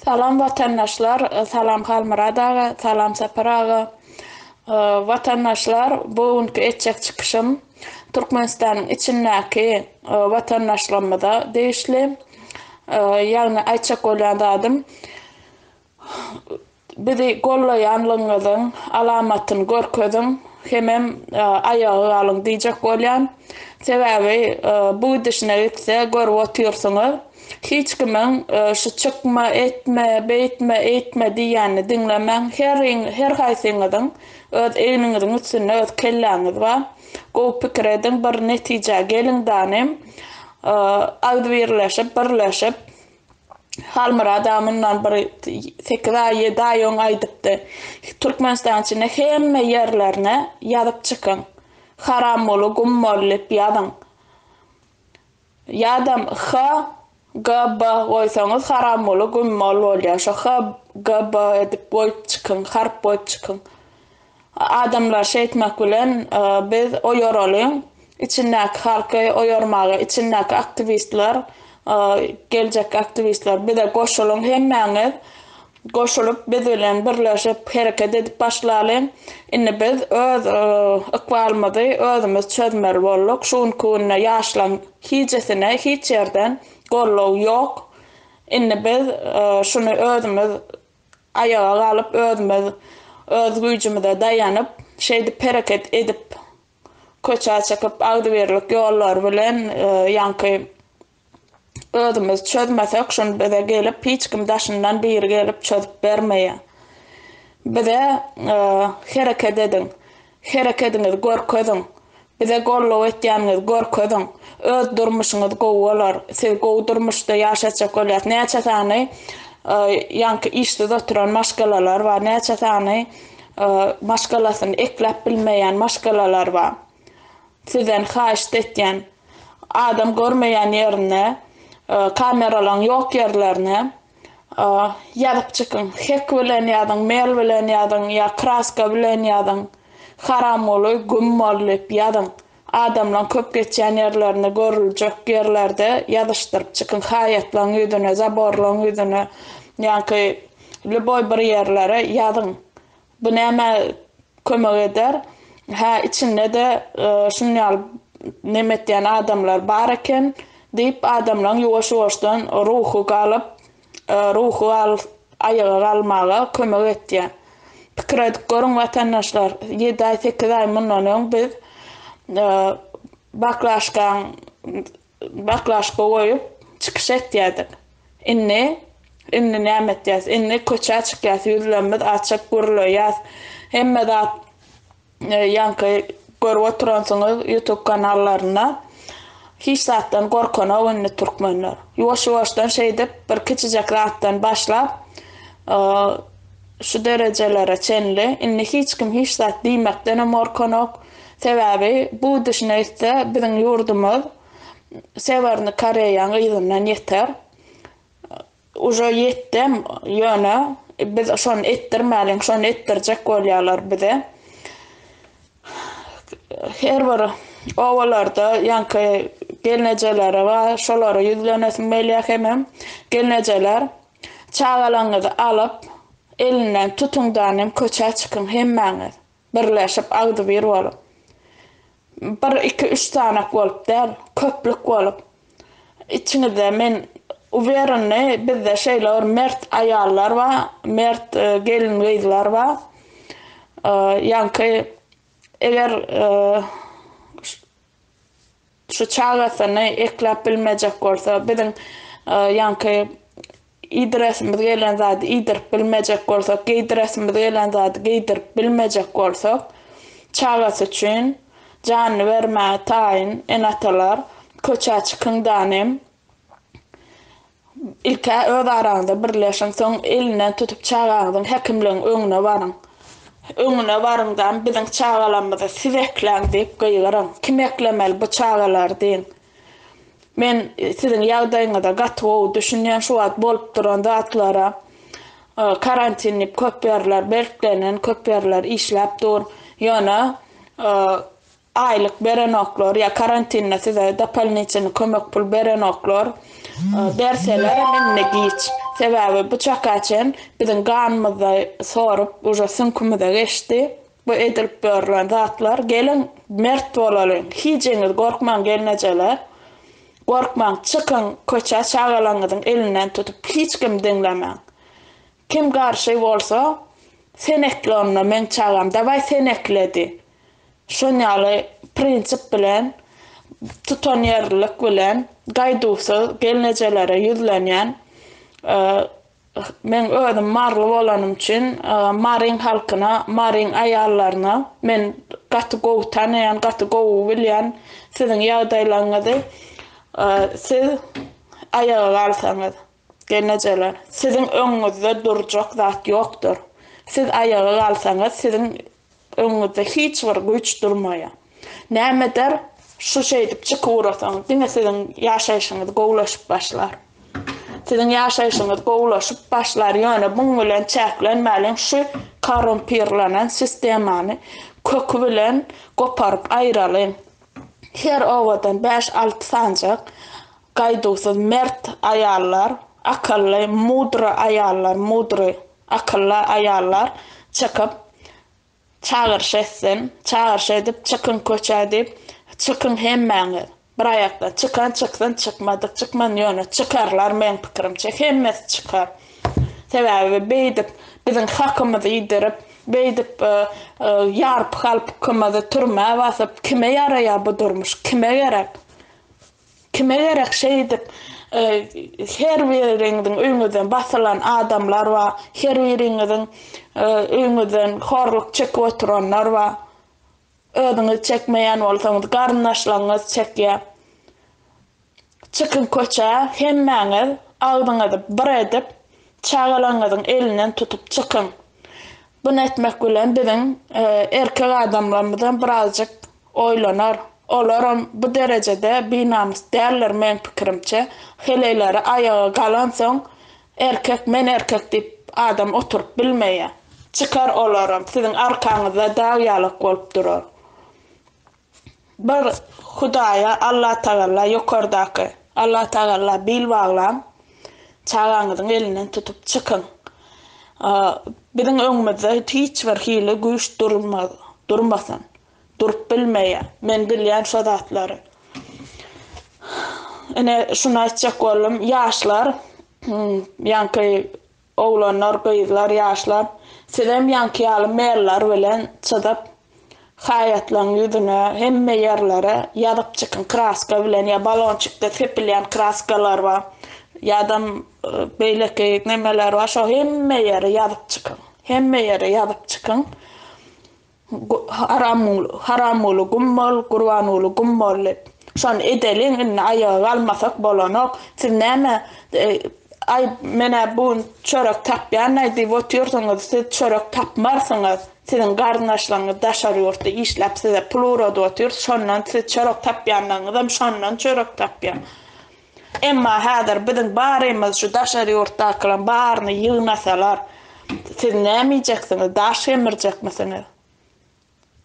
Salam watandaşlar salam Halmyrat aga salam Sapar aga watandaşlar bu günki etjek çykyşym Türkmenistanyň içindäki watandaşlarymyza degişli ýagny aýtjak bolýan zadym Bizi gollaýanlygyňyzyň alamatyny görkeziň hemem aýaga galyň diýjek bolýan. Sebäbi bu gidişine gitse görüp otyrsyňyz hiç kimiň şu çykma etme beýtme eýtme diýýänini diňlemäň heriň her haýsyňyzyň öz egniňiziň üstünde öz kelläňiz bar gowy pikir ediň bir netijä geliň danym agzybirleşip birleşip Halmyradam mundan bir sekiz aý, ýedi aý öň aýdypdy. Türkmenistanyň içinde hemme ýerlerine ýazyp çykyň. Haramguly, Gummol diýip ýazyň. Ýa-da HGB goýsaňyz Haramguly, Gummol bolýar. Şo HGB edip goýup çykyň, harp goýup çykyň. Adamlar şeýtmek bilen biz oýaralyň, içindäki halky oýarmaga, içindäki aktiwistler, geljekki aktiwistler bize goşulyň hemmäňiz, goşulyp biz bilen birleşip hereket edip başlalyň. Indi biz öz ykbalymyzy özümiz çözmeli bolduk. Şu günki günde ýaşlaň hijesine hiç ýerden goldaw ýok. Indi biz şuny özümiz Aýaga galyp özümiz öz güýjümize daýanyp, şeýdip hereket edip köçä çykyp agzybirlik ýollar bilen ýaňky özümiz çözmesek şuny bize gelip hiç kim daşyndan biri gelip çözüp bermeýär. Bize hereket ediň. Herekediňizi görkeziň. Bize gollow etýäniňizi görkeziň. Öz durmuşyňyz gowy bolar. Siz gowy durmuşda ýaşatjak bolýas. Näçe sany ýaňky işsiz oturan maşgalalar bar. Näçe sany maşgalasyny ekläp bilmeýän maşgalalar bar. Sizden haýyşt etýän. Adam görmeýän ýerinde kameralaň ýok ýerlerine Ýazyp çykyň. Hek bilen ýazyň, mel bilen ýazyň ýa kraska bilen ýazyň. Haramguly, Güm bol diýip ýazyň. Adamlaň köp geçýän ýerlerinde, görüljek ýerlerde ýazyşdyryp çykyň. Haýatlaň ýüzüne, zaborlaň ýüzüne, ýaňky lýuboý bir ýerlere ýazyň. Bu nämä kömek eder? Hä, içinde-de şunuň ýaly neme etýän adamlar bar eken diýip, adamlaryň ýuwaş-ýuwaşdan ruhy galyp, ruhy aýaga galmaga kömek etýär. Pikir edip görüň, watandaşlar, ýedi aý, sekiz aý mundan öň biz baklaşkaň Baklaşka goýup, çykyş etýädik. Indi, indi näme etýäs? Indi köçä çykýas, ýüzlerimiz açyk, gürleýäs. Hemme zat ýaňky görüp oturansyňyz ýutub kanallarynda. Hiç zatdan gorkanok indi türkmenler. Ýuwaş-ýuwaşdan şeýdip, bir kiçijek zatdan başlap, Şu derejelere çenli indi hiç kim hiç zat diýmekdenem gorkanok. Sebäbi bu idişine gitse biziň ýurdumyz Sewernyý Koreýaň yzyndan ýeter. Uje ýetdem, ýöne biz şony etdirmäliň, şony etdirjek bolýarlar bize. Her bir obalarda ýaňky gelnejeleri bar, şolara ýüzlenesim gelýär hemem gelnejeler Çagalaňyzy alyp, elinden tutuňdanem köçä çykyň hemmäňiz, birleşip, agzybir bolup. Bir, iki, üç sanak bolup däl, köplük bolup. Içiňizde men uwerenni, bizde şeýle bir mert aýallar bar, mert gelin-gyzlar bar. Ýaňky, eger Şu çagasyny ekläp bilmejek bolsa, biziň ýaňky iýdiresimiz gelen zady iýdirip bilmejek bolsak, geýdiresimiz gelen zady geýdirip bilmejek bolsak, çagasy üçin janyny bermäge taýyn ene-atalar köçä çykyň danem, Ilk-ä öz araňyzda birleşiň, soň elinden tutup çagaňyzyň häkimligiň öňüne baryň. Öňüne baryň-da, Biziň çagalarymyzy siz ekläň diýip gygyryň. Kim eklemeli bu çagalary diýiň. Men siziň ýagdaýyňyza gaty gowy düşünýän, şu wagt bolup duran zatlara. Karantin diýip köp ýerler berklenen, köp ýerler işläp dur. Ýöne Aýlyk berenoklar ýa karantinde size dopalniçenny kömek pul berenoklar berselerem indi giç. Sebäbi bu çaka çen biziň ganymyzda sorup uje süňkümize geçdi bu edilip ýörlen zatlar. Geliň mert bolalyň hijeňiz gorkmaň gelnejeler. Gorkmaň çykyň köçä çagalaňyzyň elinden tutup hiç kim diňlemäň. Kim garşy bolsa sen ekle onda meň çagam dawaý sen ekle diý. Şon ýaly prinsip bilen, tutanýerlilik bilen gaýduwsyz gelnejelere ýüzlenýän Men özüm maryly bolanym üçin Maryň halkyna, Maryň aýallaryna men gaty gowy tanaýan, gaty gowy bilýän siziň ýagdaýlaryňyzy siz aýaga galsaňyz. Gelnejeler, siziň öňüňizde durjak zat ýokdur. Siz aýaga galsaňyz, siziň öňüňizde hiç bir güýç durmaýar. Näme eder, şu şeýdip çykyp ugrasaňyz, diňe siziň ýaşaýşyňyz gowulaşyp başlar. Siziň ýaşaýşyňyz gowulaşyp başlar, ýöne muň bilen çäklenmäliň, şu korumpirlenen sistemany köki bilen goparyp aýralyň. Her obadan bäş-alty sanjak Gaýduwsyz, mert aýallar, akylly, mudry aýallar, mudry, akylly aýallar çykyp, çagyryş etsin, çagyryş edip, çykyň köçä diýip, çykyň hemmäňiz, bir aýakdan, çykan çyksyn, çykmadyk çykman, ýöne çykarlar, meň pikirimçe, hemmesi çykar. Sebäbi beýdip biziň hakymyzy iýdirip, beýdip ýarpy-halpykymyzy türmä basyp, kime ýaraýar bu durmuş, kime gerek? Kime gerek şeýdip her biriňiziň öýüňizden basylan adamlar bar, her biriňiziň öýüňizden horluk çekip oturanlar bar. Özüňiz çekmeýän bolsaňyz garyndaşlaryňyz çekýär. Çykyň köçä hemmäňiz agzyňyzy bir edip çagalaryňyzyň elinden tutup çykyň. Bunu etmek bilen biziň erkek adamlarymyzam birazjyk Oýlanar, olaram bu derejede binamys däldir meň pikirimçe, heleýleri aýaga galansoň erkek men erkek diýip adam oturyp bilmeýä. Çykar olaram siziň arkaňyzda dag ýalak bolup durar. Bir Hudaýa Allatagalla ýokardaky Allatagalla bil baglaň, çagaňyzyň elinden tutup çykyň. Biziň öňümizde hiç bir hili güýç durmasyn. durup bilmeýä. Men bilýän şo zatlary. Ine, şuny aýtjak boldum. Ýaşlar, ýaňky oglanlar, gyzlar, ýaşlar, sizem ýaňky ýaly mail-lar bilen çyzyp, haýatlaň ýüzüne, hemme ýerlere ýazyp çykyň kraska bilen ýa balonçikde sepilýän kraskalar bar, ýadam beýleki nemeler bar, şo hemme ýere ýazyp çykyň. Hemme ýere ýazyp çykyň. Haramguly gum bol, Gurbanguly gum bol diýip. Şony edeliň indi aýaga galmasak bolanok. Siz näme Aý menä bu gün çörek tapýanaý diýip otyrsyňyz, siz çörek tapmarsyňyz. Siziň garyndaşlaryňyz daşary ýurtda işläp size pul ugradyp otyr, şondan siz çörek tapýanlaryňyzam şondan çörek tapýar. Emma häzir biziň barymyz şu daşary ýurtdakylaň baryny ýygnasalar, siz näme iýjeksiňiz, daş gemirjekmisiňiz?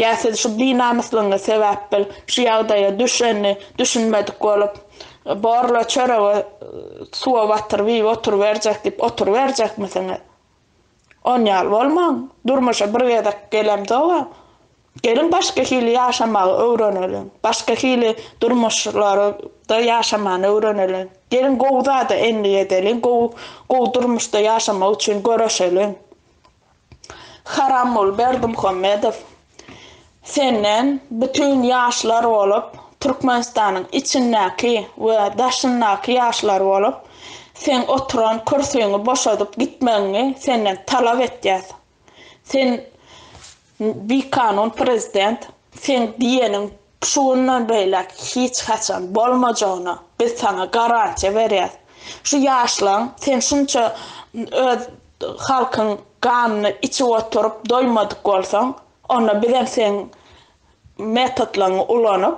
Ýa siz şu binamyslygyňyz sebäpbil şu ýagdaýa düşenini düşünmedik bolup, borla çöregi suwa batyryp iýip oturyberjek diýip oturyberjekmisiňiz? On ýaly bolmaň, durmuşa bir gezek gelemzoga, geliň başga hili ýaşamagy öwreneliň, başga hili durmuşlarda ýaşamany öwreneliň. Geliň gowy zada endik edeliň, gowy gowy durmuşda ýaşamak üçin göreşeliň. Haramguly Berdimuhamedow. Senden bütin ýaşlar bolup Türkmenistanyň içindäki we daşyndaky ýaşlar bolup seň oturan kürsüňi boşadyp gitmegiňi senden talap etýäs. Sen bikanun prezident, seň diýeniň Şu günden beýläk hiç haçan bolmajagyna biz saňa garantiýa berýäs. Şu ýaşlaň sen şunça öz halkyň ganyny içip oturyp doýmadyk bolsaň, onda bizem seň metodlaryňy ulanyp,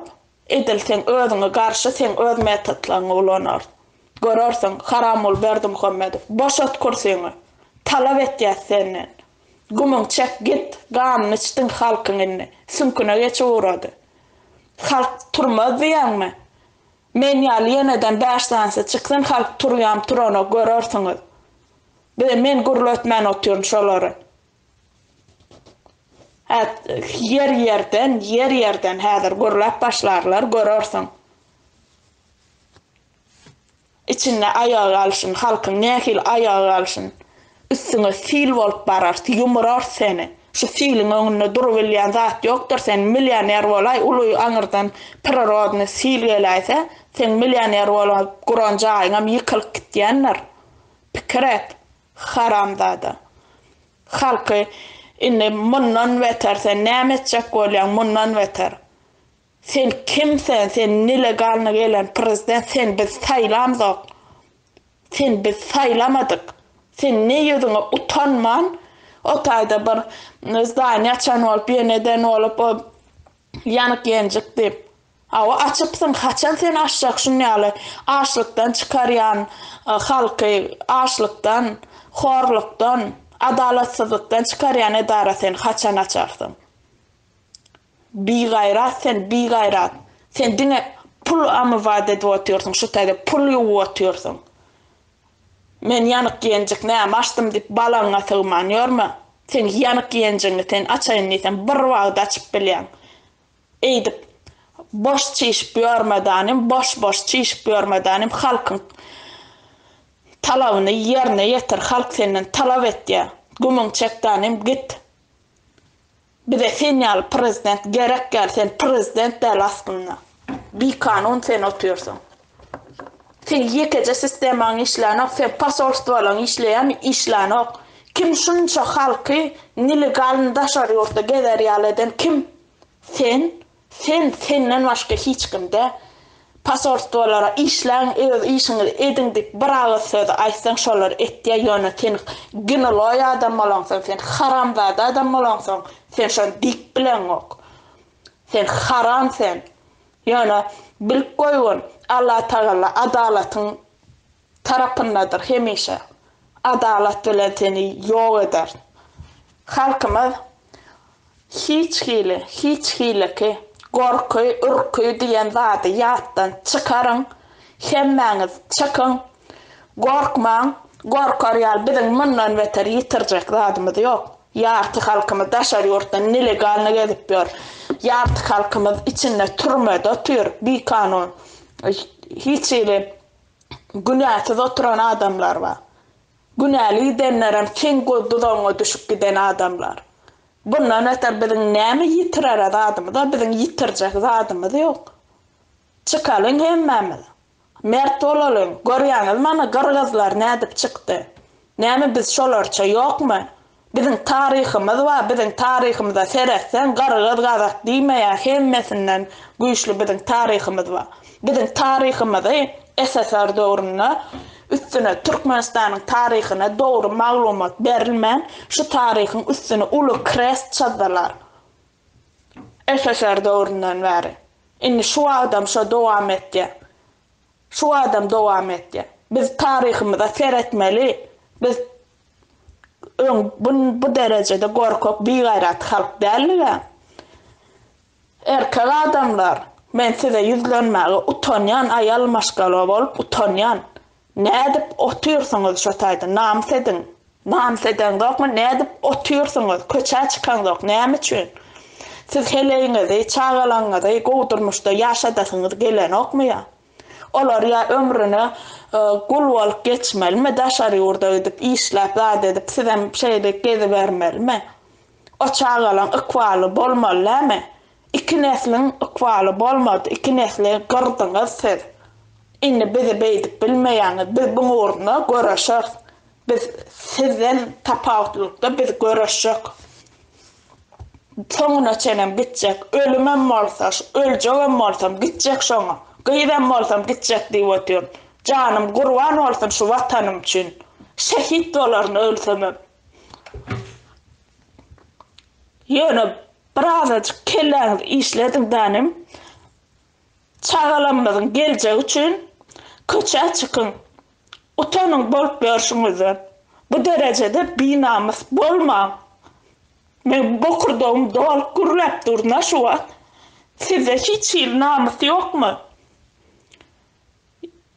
edil seň özüňe garşy seň öz metodlaryňy ulanarys. Görersiň, Haramguly Berdimuhamedow, boşat kürsiňi! Talap etýäs senden! Gumyň çek git, ganyny içdiň halkyň indi, süňküne geçip ugrady. Halk turmaz diýýäňmi? Men ýaly ýeneden bäş sanysy çyksyn halk turýam turanok görersiňiz. Bize men gürletmän otyryn şolary. Hä ýer ýerden, ýer ýerden häzir gürläp başlarlar görersiň. Içinde aýagy galsyn halkyň nähili aýagy galsyn üstüňe sil bolup barar ýumurars seni şu siliň öňünde durubilýän zat ýokdur sen milýoner bolaý uly aňyrdan prirodny sil geläýse seň milýoner bolup guran jaýyňam ýykylyp gitýändir pikir et haramzada halky indi mundan beter sen näme etjek bolýaň mundan beter Sen kim sen sen nelegalny gelen prezident sen biz saýlamzok sen biz saýlamadyk sen ne ýüzüňe utanman o taýda bir zdaniýa açan bolup ýen eden bolup o ýanyk ýenjik diýip awa açypsyň haçan sen açjak şun ýaly açlykdan çykarýan halky açlykdan horlukdan adalatsyzlykdan çykarýan edara sen haçan açarsyň. Bigaýrat sen bigaýrat sen diňe pul amybat edip otyrsyň şu tage pul ýuwup otyrsyň men ýanyk ýenjik näme açdym diýip balaňňa sygman ýörme seň ýanyk ýenjigiňi sen açaýyn diýsem bir wagt açyp bilýäň eýdip boş çişip ýörmedanym boş boş çişip ýörmedanym halkyň talabyny ýerine ýetir halk senden talap etýä gümüň çekdanym git Bize sen ýaly prezident gerek ýaly sen prezident däl aslynda bikanun sen otyrsyň seň ýekeje sistemaň işlänok seň posolstwolaň işleýän işlänok kim şunça halky nelegalny daşary ýurtda gezer ýaly eden kim sen Sen senden başga hiç kim dä. Posolstwolara işläň öz işiňizi ediň diýip bir agyz sözi aýtsaň şolary etýä ýöne sen gniloý adam bolaňsoň sen haramzada adam bolaňsoň sen şony diýip bileňok. Sen haram sen. Ýöne bilip goýgun Allatagalla adalatyň tarapyndadyr hemişe adalat bilen seni ýok eder halkymyz hiç hili hiç hiliki gorky ürki diýen zady ýatdan çykaryň hemmäňiz çykyň gorkmaň gorkar ýaly biziň mundan beter ýitirjek zadymyz ýok ýarty halkymyz daşary ýurtda nelegalny gezip ýör ýarty halkymyz içinde türmede otyr bikanun hiç hili günäsiz oturan adamlar bar. Günäli gidenlerem seň göz duzagyňa düşüp giden adamlar. Bundan beter biziň näme ýitirere zadymyz-a, biziň ýitirjek zadymyz ýok. Çykalyň hemmämiz. Mert bolalyň. Görýäňizmi ana gyrgyzlar nädip çykdy. Näme biz şolarça ýokmy? Biziň taryhymyz bar, biziň taryhymyza seretseň gyrgyz gazak diýmeýär hemmesinden güýçli biziň taryhymyz bar. Biziň taryhymyzy SSR döwründe üstüne Türkmenistanyň taryhyna dogry maglumat berilmän şu taryhyň üstüne uly krest çyzdylar SSR döwründen bäri. Indi şu wagtam şo dowam etýär. Şu adam dowam etýär. Biz taryhymyza seretmeli. Biz öň bu derejede gorkak, bigaýrat halk däldiga. Erkek adamlar, men size ýüzlenmäge utanýan, aýal maşgala bolup utanýan. Nädip otyrsyňyz şo taýda, namys ediň. Namys edeňzokmy, nädip otyrsyňyz, köçä çykaňzok, näme üçin? Siz heleýiňizi, çagalaňňyzy gowy durmuşda ýaşadasyňyz gelenokmy ýa? Olar ýa ömrüne gul bolup geçmelimi, daşary ýurda gidip işläp zat edip sizem şeýdip gezibermelimi? O çagalaň ykbaly bolmaly näme? Iki nesliň ykbaly bolmady iki nesli gyrdyňyz siz indi bizi beýdip bilmeýäňiz biz buň ugruna göreşeris biz sizden tapawutlylykda biz göreşjek soňuna çenem gitjek ölümem bolsa öljegem bolsam gitjek şoňa gyzam bolsam gitjek diýip otyr janym gurban bolsun şu watanym üçin şehit bolaryn ölsemem. Ýöne birazajyk kelläňizi işlediň danym. Çagalarymyzyň geljegi üçin köçä çykyň. Utanyň bolup ýörşüňizden. Bu derejede binamys bolmaň. Meň bokurdagym dolup gürläp durna şu wagt. Sizde hiç hili namys ýokmy?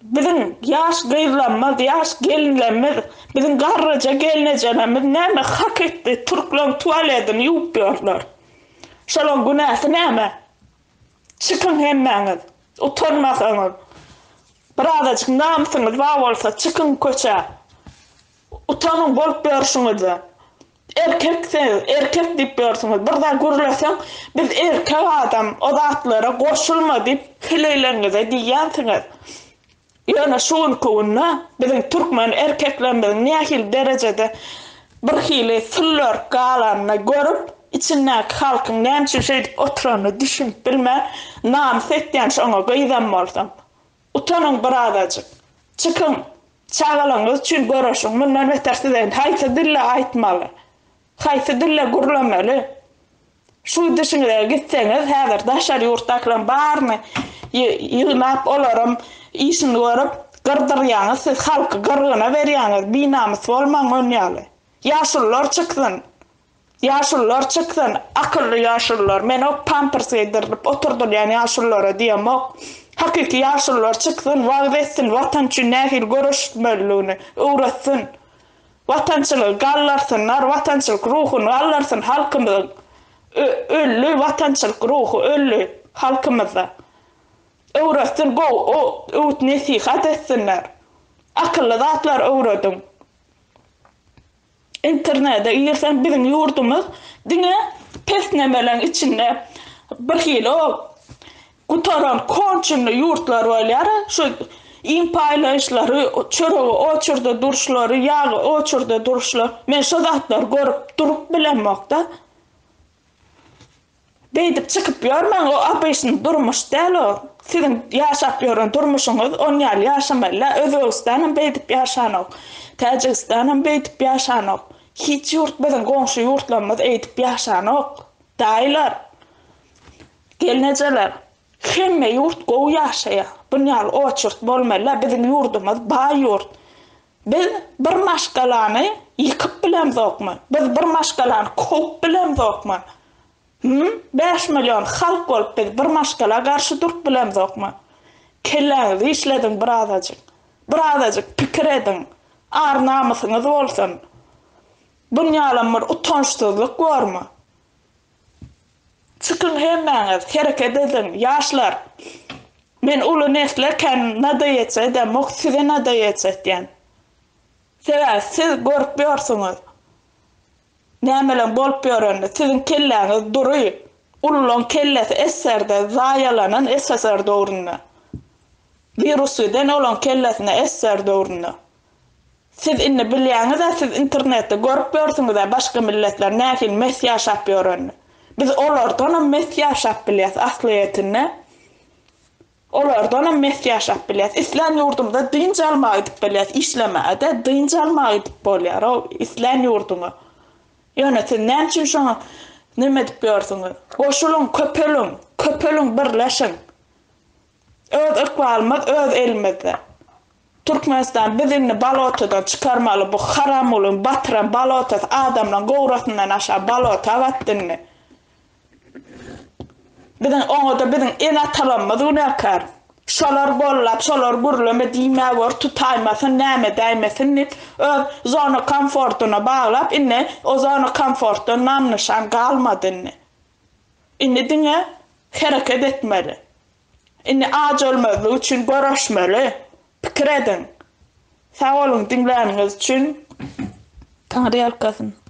Biziň ýaş gyzlamyz, ýaş gelinlemiz, biziň garryja gelnejenemiz näme hak etdi, türkleň tualedini ýuwup ýörler. Şolaň günäsi näme? Çykyň hemmäňiz, utanmasaňyz, birazajyk namysyňyz bar bolsa çykyň köçä, utanyň bolup ýörşüňizden. Erkek siz, erkek diýip ýörsiňiz, bir zat gürleseň, biz erkek adam, o zatlara goşulma diýip heleýleriňize diýýänsiňiz. Ýöne şu günki günde biziň türkmen erkeklerimiziň nähili derejede birhili süllörk galanyny görüp, içindäki halkyň näme üçin şeýdip oturanyny düşünip bilmän, namys etýän şoňa gyzam bolsaň. Utanyň birazajyk. Çykyň. Çagalaryňyz üçin göreşiň. Mundan beter size indi haýsy dilde aýtmaly? Haýsy dilde gürlemeli? Şu dişiňize gitseňiz, häzir daşary ýurtdakylaryň baryny ýygnap, olaram işini görüp, gyrdyrýaňyz siz, halky gyrgyna berýäňiz, binamys bolmaň onýaly. Ýaşulular çyksyn. Ýaşulular çyksan, akylly ýaşulular, menok pampers geýdirilip oturdylýan ýaşululara diýemok. Hakyky ýaşulular çyksan, wagyz etsin Watan üçin nähili göreşilmeliligini öwretsin. Watançylygy galdyrsynlar, watançylyk ruhuny galdyrsyn halkymyzyň. Ö öldi watançylyk ruhy, öldi halkymyzda. Öwretsin gowy o öwüt-nesihat etsinler. Akylly zatlar öwrediň. Internete girseň biziň ýurdumyz diňe pesnemeleň içinde bir hili o gutaran konçenli ýurtlar bolýar şu iým paýlaýyşlary çöregi oçurda duruşlary ýagy oçurda duruşlar men şo zatlary görüp durup bilemokda. Beýdip çykyp ýörmäň o abyşyn durmuş däl o siziň ýaşap ýören durmuşyňyz on ýaly ýaşamalyla özbegistanam beýdip ýaşanok täjigistanam beýdip ýaşanok hiç ýurt biziň goňşy ýurtlarymyz eýdip ýaşanok daýylar gelnejeler hemme ýurt gowy ýaşaýa bunýaly oçurt bolmalyla biziň ýurdumyz baý ýurt Biz bir maşgalany ýykyp bilemzokmy? Biz bir maşgalany kowup bilemzokmy? Hum, bäş million halk bolup biz bir maşgala garşy durup bilemzokmy? Kelläňizi işlediň birazajyk. Birazajyk pikir ediň. Ar-namysyňyz bolsun. Bunýalam bir utançsyzlyk bormy? Çykyň hemmäňiz hereket ediň ýaşlar men uly nesl eken nadoýeç edem ok size nadoýeç etýän sebäbi siz görüp ýorsuňiz nämeleň bolup ýorenini siziň kelläňiz dury ululaň kellesi esserde zaýalanan ssr döwründe wirus giden olaň kellesine ssr döwründe Siz indi bilýäňiz-ä siz internetde görüp ýörsüňiz-ä başga milletler nähili mes ýaşap ýörenini. Biz olardanam mes ýaşap bilýäs aslyýetinde. Olardanam mes ýaşap bilýäs. Islän ýurdumyza dynç almaga gidip bilýäs. Işlemäge-de dynç almaga gidip bolýar o islän ýurduňa. Ýöne siz näme üçin şoňa neme edip ýörsüňiz? Goşulyň, köpeliň! Köpeliň, birleşiň! Öz ykbalymyz öz elimizde. Türkmenistan biz indi balotadan çykarmaly bu haramgulyň batyran balotasy adamlaň gowrasyndan aşa balota batdy indi. Biziň oňada biziň ene atalarymyz günäkär. Şolar gollap şolar gürleme diýmä gör tutaýmasyn näme däýmesin diýip öz zona komfortyna baglap indi o zona komfortdan nam nyşan galmady indi. Indi diňe hereket etmeli. Indi ajolmazlyk üçin göreşmeli. Pikir ediň. Sag boluň diňläniňiz üçin. Taňryýalkasyn.